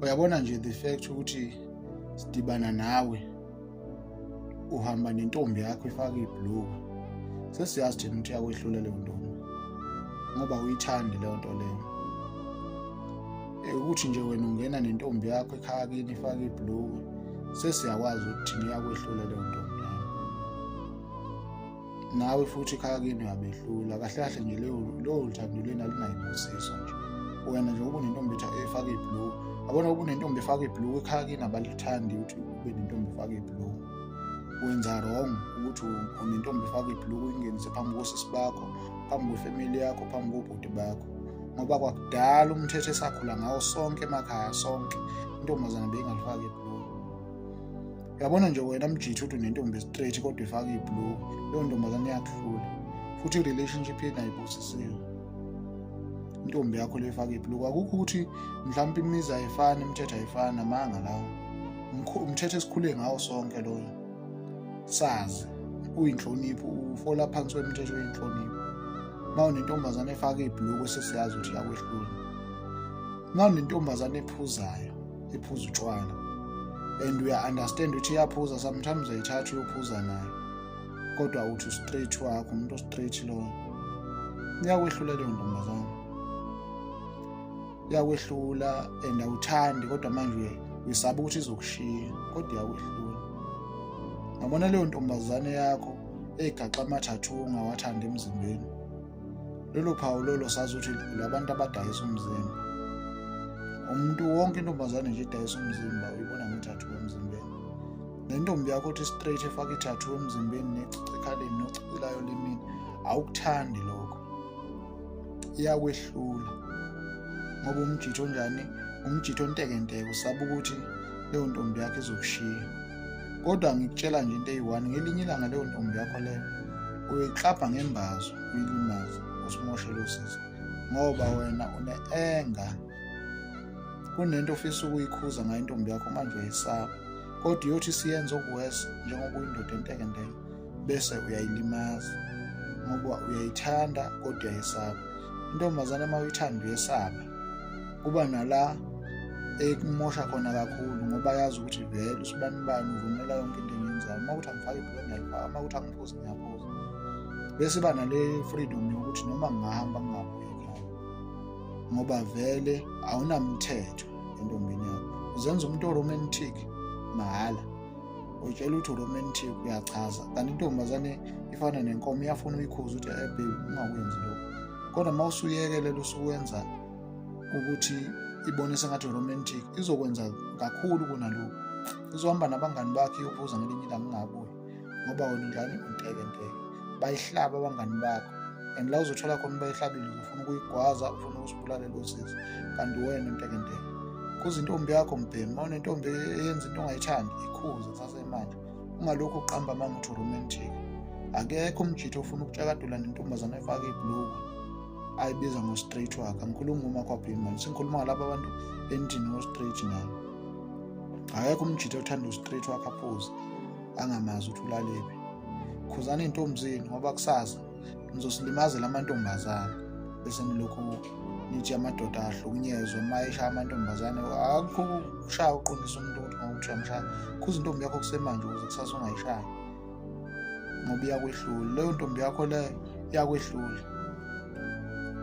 uyabona nje the fact ukuthi sidibana nawe uhamba nentombi yakho ifaka ibhluku sesiyazi thina ukuthi yakwehlula leyo ntombi ngoba uyithandi leyo nto leyo eh, ukuthi nje wena ungena nentombi yakho ekhaya kini ifaka ibhluku sesiyakwazi ukuthi thina yakwehlula leyo ntombi nawe futhi khaya kini uyabehlula kahle kahle nje leyo lowo luthando lena lunayimbusiso nje wena nje uba unentombi etha efaka iblue abona uba unentombi efaka iblue ekhaya kini abalithandi ukuthi ube nentombi efaka iblue wenza wrong ukuthi unentombi efaka iblue uyingenise phambi kosisi bakho phambi kwefamily yakho phambi kobhuti bakho ngoba kwakudala umthetho esakhula ngawo sonke emakhaya sonke intombazana beyingalifaki iblue uyabona nje wena mjithi uthi unentombi straight kodwa ifaka iblue leyo ntombazane iyakuhlula futhi i-relationship yenu ayibusisiwe intombi yakho le efaka iblue akukho ukuthi mhlawumpe imizi ayifani imithetho ayifani namanga lawo umthetho esikhule ngawo sonke loyo sazi uyinhlonipho ufola phansi wemithetho yenhlonipho uma unentombazane efaka ibhuluku sesiyazi ukuthi yakwehlula uma unentombazane ephuzayo iphuza utshwala and uya understand ukuthi iyaphuza sometimes ayithatha uyophuza nayo kodwa uthi straight wakho umuntu straight lowo iyakwehlulela leyo ntombazane iyakwehlulela and awuthandi kodwa manje uyisaba ukuthi izokushiya kodwa iyakwehlulela ngabona leyo ntombazane yakho egaxa amathathu ngawathanda emzimbeni lolo phawu lolo sazi ukuthi labantu abadayisa umzimba umuntu wonke intombazane nje idayisa umzimba uyibona ngethathu emzimbeni nentombi yakho othi straight efaka ithathu emzimbeni necici ekhaleni nocicilayo limini awukuthandi lokho iyakwehlula ngoba umjitho onjani umjitho ontekenteke usaba ukuthi leyo ntombi yakho izokushiya kodwa ngikutshela nje into eyi-one ngelinye ilanga leyo ntombi yakho leyo uyiklabha ngembazo uyilimaze usimoshele usizo ngoba wena une-enga kunento ofisa ukuyikhuza ngayo intombi yakho manje uyayisaba kodwa iyothi siyenza okuwesi njengoba uyindoda entekenteke bese uyayilimaza ngoba uyayithanda kodwa uyayisaba intombazane uma uyithanda uyesaba kuba nala ekumosha khona kakhulu ngoba yazi ukuthi vele usibani bani uvumela yonke into engenzayo uma ukuthi angifake ibhulwe ngiyalifaka uma ukuthi angiphuzi ngiyaphuza bese iba nale freedom yokuthi noma ngingahamba ngingabuyi ekhaya ngoba vele awunamthetho entombini yakho uzenza umuntu oromantic mahhala utshela ukuthi uromantic uyachaza kanti intombazane ifana nenkomo iyafuna uyikhuza ukuthi ebe eh, ungakwenzi lokho kodwa uma usuyekelela usuwenza ukuthi ibone sengathi uromantic izokwenza kakhulu kunalokhu izohamba nabangani bakhe iyophuza ngelinye ilanga ingabuyi ngoba wena udlani untekenteke bayihlaba abangani bakho and la uzothola khona ubayihlabile uzofuna ukuyigwaza ufuna ukusibulala lo sisi kanti wena ntekenteke khuza intombi yakho mbhemi uma unentombi eyenza into ongayithandi ikhuze kusase imali ungalokhu uqamba amanga uthi uromantic akekho umjitho ofuna ukutshakadula nentombazane efake ibhluku ayibiza ngo-straight wakhe angikhulumi ngomakwabhimani sengikhuluma ngalabo abantu endini ngo-straight nabo akekho umjitho othanda u-straight wakhe aphuze angamazi ukuthi ulaliphi khuzani intombzini ngoba kusasa nizosilibazela amantombazane bese nilokhu nithi amadoda ahlukunyezwe uma eshaya amantombazane akukho ukushaya uqondisa umuntu ukuthi ngokuthi uyamshaya khuza intombi yakho kusemanje ukuze kusasa ungayishayi ngoba iyakwehlula leyo ntombi yakho leyo iyakwehlula